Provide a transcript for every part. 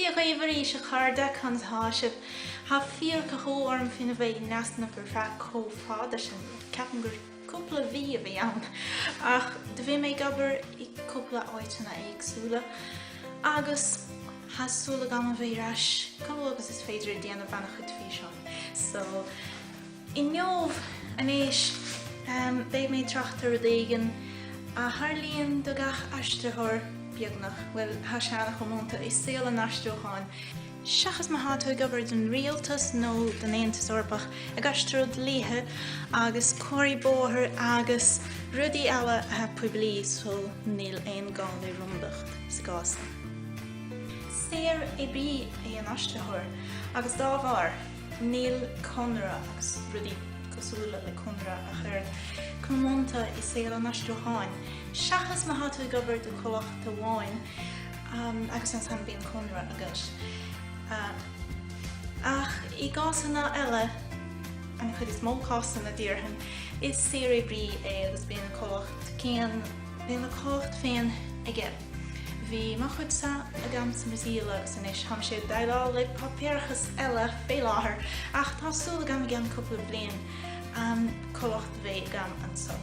Dia dhaoibh arís, a chairde, conas atá sibh? Tá fíorchathú orm féin a bheith in easnamh ar feadh chomh fada sin, ceapaim gur cúpla mhí a bhí ann, ach do bhí mé ag obair i gcúpla áiteanna éagsúla agus tá súil agam a bheith ar ais chomh luath agus is féidir ag déanamh an-chuid físeáin. So. Inniu anois beidh mé ag trácht ar rud éigin a tharlaíonn do gach aistritheoir, beagnach, bhuel, tá sé an-chomónta i saol an aistriúcháin, seachas má tá tú ag obair don rialtas nó don Aontas Eorpach, ag aistriú dlíthe agus comharthaí bóthair agus rudaí eile atá poiblí, so níl aon gá le rúndacht sa gcás sin. Saoroibrí é an aistritheoir agus dá bharr, Níl conradh agus rudaí cosúla le conradh ach oiread, comónta i saol an aistriúcháin, seachas má tá tú ag obair do chomhlacht amháin agus ansan bíonn conradh agat. Ach i gcásanna eile, an chuid is mó cásanna déarfainn, is saoroibrí é agus bíonn a chomhlacht féin, bíonn a chomhlacht féin aige. Bhí mo chuidse agam sa mBrasaíl is anois táimse ag déileáil le páipéarachas eile fé láthair ach tá súil agam i gceann cúpla bliain comhlacht a bheith agam anso.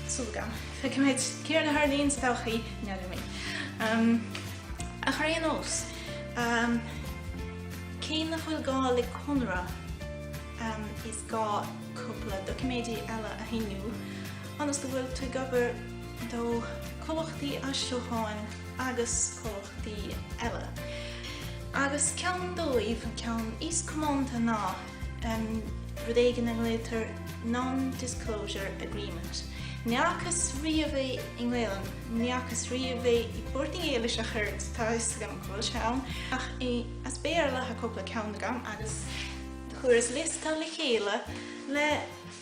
Súil agam. Feicfimid céard a tharlaíonn sa todhchaí, n'fheadar mé. Ach ar aon nós, cé nach bhfuil gá le conradh is gá cúpla doiciméidí eile a shíniú ionas go bhfuil tú ag obair do chomhlachtaí aistriúcháin agus comhlachtaí eile, agus ceann dóibh, an ceann is comónta ná rud éigin a nglaotar non-disclosure agreement. Ní fhacas riamh é i nGaelainn, ní fhacas riamh é i bPortaingéilis ach oiread, tá a fhios agam go bhfuil sé ann, ach as Béarla atá cúpla ceann agam agus chuireas liosta le chéile le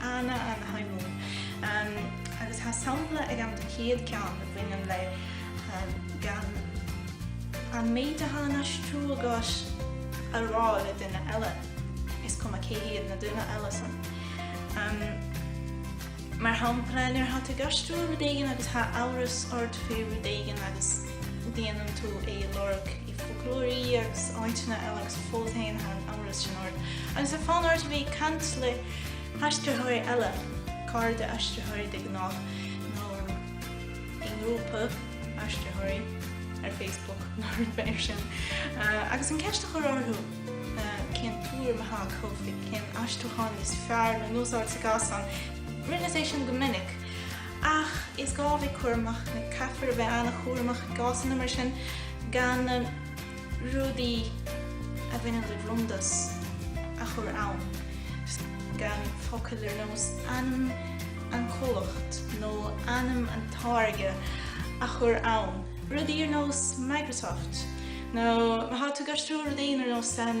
ana, ana-shuimiúil, agus tá sampla agam don chéad ceann a bhaineann le gan an méid atá á aistriú agat a rá le duine eile, is cuma cé hiad na duine eile san. Mar shampla, nuair atá tú ag aistriú rud éigin agus tá amhras ort faoi rud éigin agus déanann tú é a lorg i bhfoclóirí agus áiteanna eile agus fós féin tá an amhras sin ort agus tá fonn ort a bheith ag caint le Aistritheoirí eile, cairde aistritheoirí de ghnáth, nó i ngrúpa aistritheoirí ar Facebook nó rud mar sin, agus an ceist a chur orthu cén tuairim atá acu faoi, cén aistriúchán is fearr le n-úsáid sa gcás san, tarlaíonn sé sin go minic. Ach is gá bheith cúramach, caithfear a bheith an-chúramach i gcásanna mar sin, gan. rudaí a bhaineann le rúndacht a chur ann, gan focail ar nós ainm an chomhlachta nó ainm an táirge a chur ann, rudaí ar nós Microsoft nó má tá tú ag aistriú rud éigin ar nós an.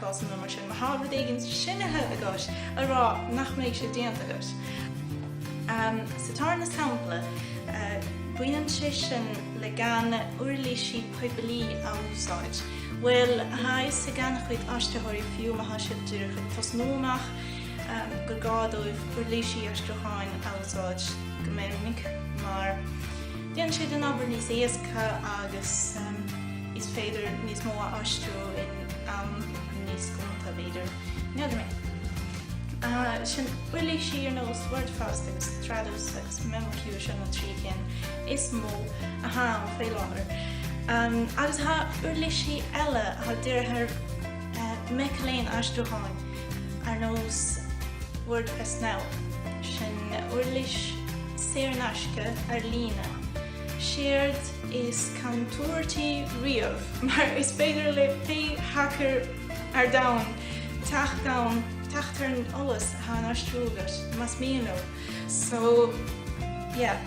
cásanna mar sin, má tá rud éigin sínithe agat a rá nach mbeidh sé déanta agat. Sa tarna sampla, baineann sé sin le gan uirlísí poiblí a úsáid. Bhuel, tá a fhios ag an-chuid aistritheoirí fiú má tá siad díreach ag tosnú amach gur gá dóibh uirlísí aistriúcháin a úsáid go minic mar déanann siad an obair níos éasca agus is féidir níos mó a aistriú in am níos gonta, b'fhéidir. N'fheadar mé. Sin uirlísí ar nós Wordfast agus Trados agus memoQ, sin na trí cinn is mó atá ann faoi láthair. Agus tá uirlísí eile atá dírithe ar mic léinn aistriúcháin ar nós Wordfast Now. Sin uirlís saor in aisce ar líne. siad is contúirtí riamh, mar is féidir le pé hacker ar domhan teacht ann, teacht ar an eolas atá á aistriú agat, más mian leo. So, yeah.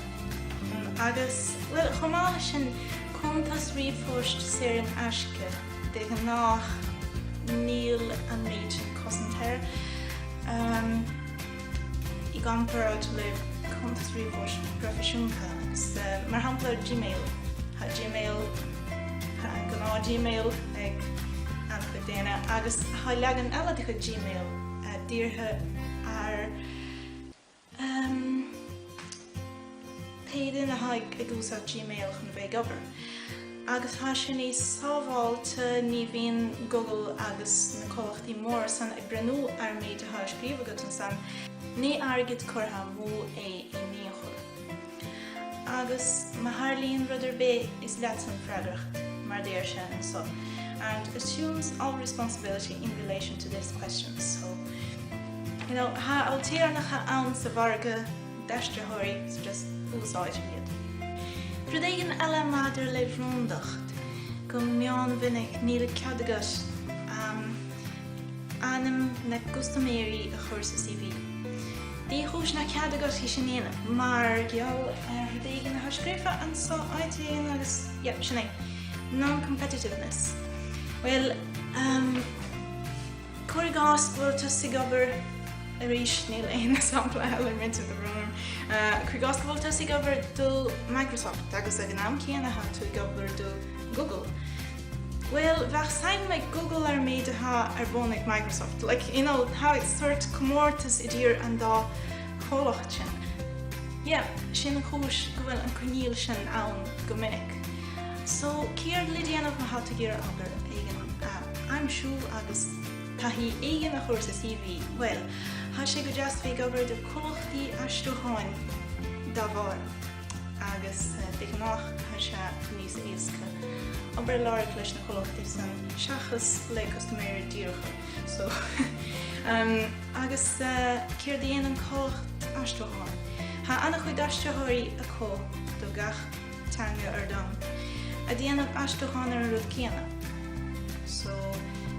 Agus, bhuel, chomh maith leis sin, cuntas ríomhphoist saor in aisce, de ghnách níl an méid sin cosanta air. i gcomparáid le cuntas ríomhphoist proifisiúnta agus, mar shampla, Gmail. Tá Gmail, tá an gnáth-Gmail ag an-chuid daoine agus tá leagan eile de chuid Gmail dírithe ar Pé duine atá ag úsáid Gmail chun a bheith ag obair, agus tá sé níos sábháilte, ní bhíonn Google agus na comhlachtaí móra san ag breathnú ar an méid atá á scríobh agat ansan, ní airgead curtha amú é in aon chor. Agus má tharlaíonn rud ar bith, is leatsa an freagracht, mar a deir sé anso, and assumes all responsibility in relation to this question. So, you know, tá ailtéarnacha ann sa mhargadh. d'aistritheoirí agus úsáid iad. Rud éigin eile maidir le rúndacht, go mion mhinic níl cead agat ainm na gcustaiméirí a chur sa CV. Dé chúis nach cead agat é sin a dhéanamh mar gheall ar rud éigin atá scríofa anseo áit éigin agus yep, sin é, non-competitiveness. Bhuel, Cuir i gcás go bhfuil tusa ag obair, arís níl aon sampla elephant of the room, cuir i gcás go bhfuil tusa ag obair do Microsoft agus ag an am céanna atá tú ag obair do Google, bhuel, bheadh suim ag Google ar an méid atá ar bun ag Microsoft. Like, you know, tá sórt comórtas idir an dá chomhlacht sin. Yeah, sin an chúis go bhfuil an coinníoll sin ann go minic. So, céard le déanamh má tha tú iarraidh obair éigin a aimsiú agus taithí éigin a chur sa CV? Bhuel, tha sé go deas bheith ag obair do chomhlachtaí aistriúcháin dá bharr agus de ghnách tá sé níos éasca obair a lorg leis na comhlachtaí san seachas le custaiméirí díreacha. So, agus céard a dhéanann comhlacht aistriúcháin? Tá ana-chuid aistritheoirí acu do gach teanga ar domhan a dhéanamh aistriúchán ar an rud céanna. So,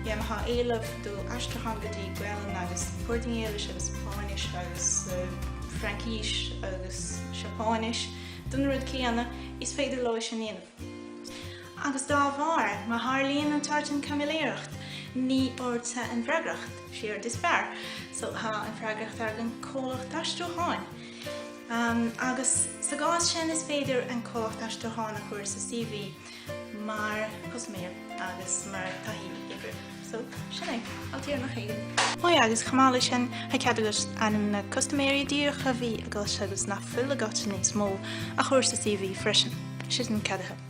má thá éileamh do aistriúchán go dtí Gaelainn agus Portaingéilis agus Spáinnis agus Fraincís agus Seapáinis don rud céanna is féidir leo é sin a dhéanamh. Agus dá bharr, má tharlaíonn an tsórt sin caimiléireacht, ní ortsa an freagracht, séard is fearr. So, tá an freagracht ar an comhlacht aistriúcháin. agus sa gcás sin is féidir an comhlacht aistriúcháin a chur sa CV mar chustaiméir agus mar taithí oibre. So, sin é, ailtéarnach éigin. Maith agus chomh maith leis sin, tá cead agat ainm na custaiméirí díreacha a bhí agat agus nach bhfuil agat níos mó a chur sa CV freisin. Siad na ceadaithe.